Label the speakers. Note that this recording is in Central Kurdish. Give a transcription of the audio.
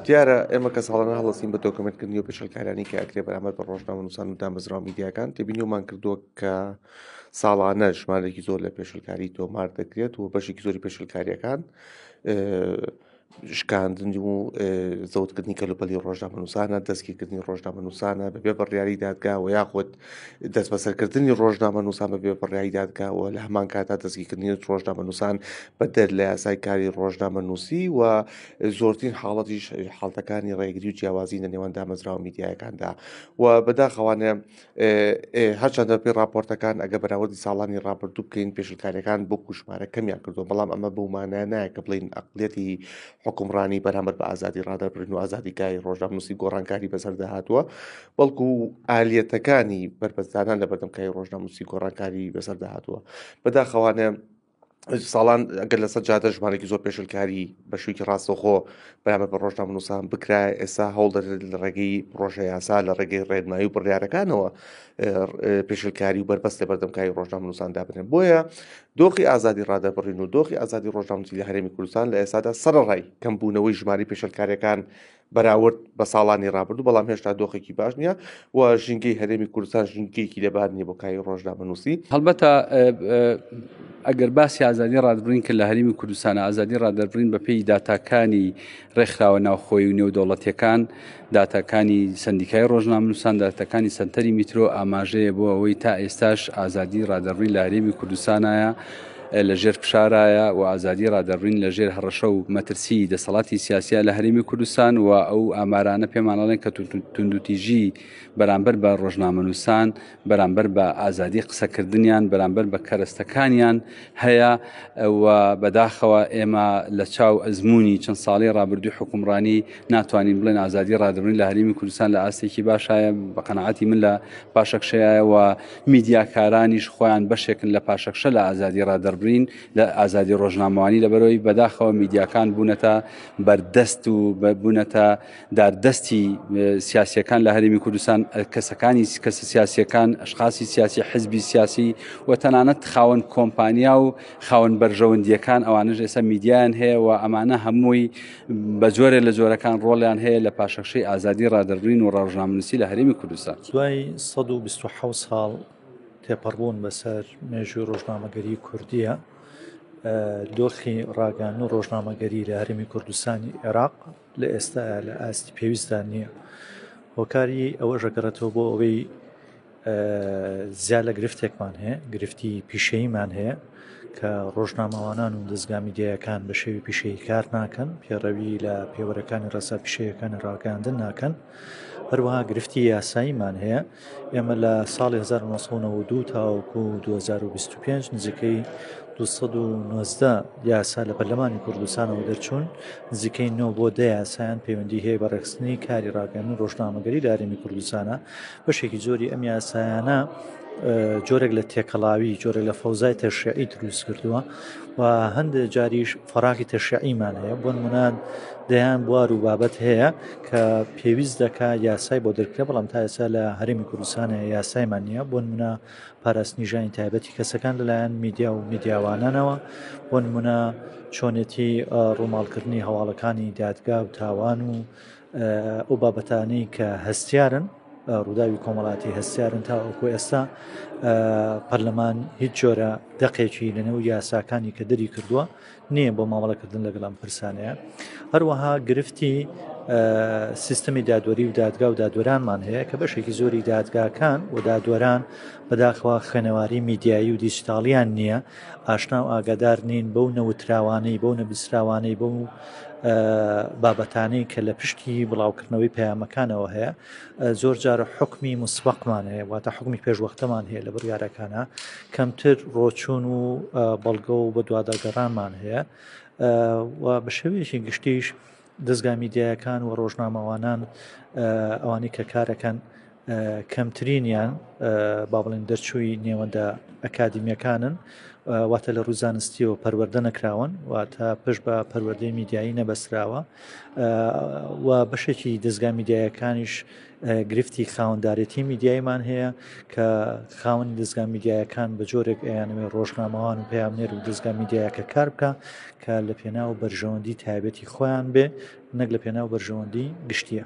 Speaker 1: دیارە ئێمە کە ساڵانە هەڵستین بە دۆکمنتکردنی و پێشلکارانی کە ئەکرێ بەرامەر بە ڕۆژنامە نووسان و دامەزراوە میدیاکان تێبینیومان کردووە کە ساڵانە ژمارێکی زۆر لە پێشلکاری تۆمار دەکرێت و بەشێکی زۆری پێشلکاریەکان شکاندن و زەوتکردنی کەلوپەلی ڕۆژنامەنووسانە دەستگیرکردنی ڕۆژنامەنووسانە بەبێ بڕیاری دادگاوە یاخود دەست بەسەرکردنی ڕۆژنامەنووسان بەبێ بڕیاری دادگاوە لە هەمان کاتا دەستگیرکردنی ڕۆژنامەنووسان بە دەر لە یاسای کاری ڕۆژنامەنووسی و زۆرترین حاڵەتیش حاڵتەکانی ڕێگری و جیاوازی لە نێوان دامەزراوە میدیایەکاندا و بەداخەوانە هەرچەندە پێی راپۆرتەکان ئەگە بەراوردی ساڵانی رابرردوو بکەین پێشلکارەکان بۆ کوشمارە کەمیان کردو بەڵام ئەمە بەومانە نایە کە بڵین ئەقلەتی حکومڕانی بەرامبەر بە ئازادی رادەربرن و ئازادی کاری ڕۆژناموسی گۆڕانکاری بەسەردا هاتووە بەڵکو و ئالیەتەکانی بەرپەستدانان لە بەردەم کاری ڕۆژناموسی گۆڕانکاری بەسەردا هاتووە بەداخەوانە ساڵان ئەگەر لەسەر جادە ژمارێکی زۆر پێشلکاری بە شوویکی ڕاستەخۆ بەرامە بە ڕۆژنامە نووسان بکرا ئێستا هەوڵ دەدرێت لە ڕێگەی ڕۆژە یاسا لە ڕێگەی ڕێنمایی و بڕیارەکانەوە پێشلکاری و بەربەست لە بەردەمکاری ڕۆژنامە نووسان دابنێن بۆیە دۆخی ئازادی ڕادەبڕین و دۆخی ئازادی ڕۆژنامەتی لە هەرێمی کوردستان لە ئێستادا سەرڕای کەمبوونەوەی ژماری پێشلکاریەکان بەراورد بە ساڵانی ڕابردوو بەڵام هێشتا دۆخێکی باش نییە و ژینگەی هەرێمی کوردستان ژینگەیەکی لەبار نیە بۆ کاری ڕۆژدا بنووسی هەڵبەتە
Speaker 2: ئەگەر باسی ئازادی ڕادبرین کە لە هەرمی کوردستان ئازادی ڕادەربرین بە پێی داتاکانی ڕێکخراوە ناوخۆی و نێودەوڵەتیەکان داتاکانی سندیکای ڕۆژنامنووسان داتەکانی سنتەری میترۆ ئاماژەیە بۆ ئەوەی تا ئێستاش ئازادی ڕادەڕوی لە هەرێمی کوردستانایە لە ژێر فشارایە و ئازادی ڕادەربڕین لە ژێر هەڕەشە و مەترسی دەسەڵاتی سیاسە لە هەرێمی کوردستان و ئەو ئامارانە پێمانەڵێن کە توندوتیژی بەرامبەر بە ڕۆژنامەنووسان بەرامبەر بە ئازادی قسەکردنیان بەرامبەر بە کەرەستەکانیان هەیە و بەداخەوە ئێمە لە چاو ئەزمموی چەند ساڵی ڕابردوی حکومڕانی ناتوانین بڵێن ئازادی ڕادبرین لە هەرمی کوردستان لە ئاستێکی باشایە بە قەنەعاتی من لە پاشەکشەیە و میدیاکارانیش خۆیان بەشێکن لە پاشەکشە لە ئازادی ڕادەربرین لە ئازادی ڕۆژنامەوانی لەبەرەوەی بەداخەوە میدیاکان بوونەتە بەردەست و بوونەتە داردەستی سیاسەکان لە هەرمی کوردستان کەسەکانی کەسە سیاسەکان ئەشخاصی سیاسی حزبی سیاسی و تەنانەت خاوەن کۆمپانیا و خاوەن بەرژەوەندیەکان ئەوانش ئێستا میدیان هەیە و ئەمانە هەمووی بە جۆرێ لە جۆرەکان ڕۆڵیان هەیە لە پاشەخشەی ئازادی ڕادەربرین و ڕاژنامنووسی لە هەرێمی کوردستان دوای 1970
Speaker 3: ساڵ تێپەڕبوون بەسەر مێژوی ڕۆژنامەگەری کوردیە دۆخی ڕاگەان و ڕۆژنامەگەری لە هەرمی کوردستانی عێراق لە ئێستا لە ئاستی پێویستدا نییە هۆکاری ئەوە ژەگەڕێتەوە بۆ ئەوەی زیا لە گرفتێکمان هەیە گرفتی پیشەیمان هەیە کە ڕۆژنامەوانان و دەستگا میدیەکان بە شێوی پیشەی کار ناکەن پێڕەوی لە پێوەرەکانی ڕسا پیشەیەەکانی ڕاگەاندن ناکەن هەروەها گرفتی یاساییمان هەیە ئێمە لە ساڵی 1992 تاوەکو 2025 نزیکەی 1990 یاسا لە پەرلەمانی کوردستانەوە دەرچوون نزیکەی نۆ بۆ دە یاسایان پەیوەندی هەیە بە ڕێکستنی کاری ڕاگەن و ڕۆژنامەگەری لارێمی کوردستانە بەشێکی زۆری ئەم یاسایانە جۆرێک لە تێکەڵاوی جۆرە لە فەوزای تەشعی دروست کردووە و هەندێک جاریش فراغی تەشعیمان هەیە بۆ منان دەیان بوار و بابەت هەیە کە پێویست دەکا یاسای بۆ دەرکرێ بەڵام تا ئێستا لە هەرمی کوردستانە یاسایمان نییە بۆ منە پاراستنی ژانی تایبەتی کەسەکان لەلایەن میدیا و میدیاوانانەوە بۆ منە چۆنێتی ڕووماڵکردنی هەواڵەکانی دادگا و تاوان و ئەو بابەتانەی کە هەستیارن ڕووداوی کۆمەڵاتی هەستیارن تاوەکو ئێستا پەرلەمان هیچ جۆرە دەقێکی لەنێو یاساکانی کە دەری کردووە نییە بۆ مامەڵەکردن لەگەڵم پرسانەیە هەروەها گرفتی سیستمی دادوەری و دادگا و دادوەرانمان هەیە کە بەشێکی زۆری دادگاکان و دادوەران بەداخوا خوێنەواری میدیایی و دیجیتاڵیان نییە ئاشنا و ئاگادار نین بەو نەوتراوانەی بەو نەبیسراوانەی بەو بابەتانەی کە لە پشتی بڵاوکردنەوەی پەیامەکانەوە هەیە زۆر جارە حکمی مسبقمان هەیە واتە حکمی پێشوەختەمان هەیە لە بڕیارەکانە کەمتر ڕۆچون و بەڵگە و بە دوواداگەڕانمان هەیە و بە شێوەیەکی گشتیش دەستگا میدیایەکان و ڕۆژنامەوانان ئەوانی کە کارەکەن کەمترینیان با بڵێن دەرچووی نێوەندە ئەکادمیەکانن واتە لە ڕووزانستیەوە پەروەەردە نەکراون واتە پشت بە پەروەردەی میدیایی نەبەسراوە و بەشێکی دەستگا میدیایەکانیش گرفتی خاوەنددارێتی میدیایمان هەیە کە خاوەنی دەستگا میدیایەکان بە جۆرێک ئەیانەوێ ڕۆژنامەوان و پامنێر و دەستگا میدیایەکە کار بکە کە لە پێناو بەرژەوەندی تایبەتی خۆیان بێ نەک لە پێناو بەرژەوەندی گشتیە.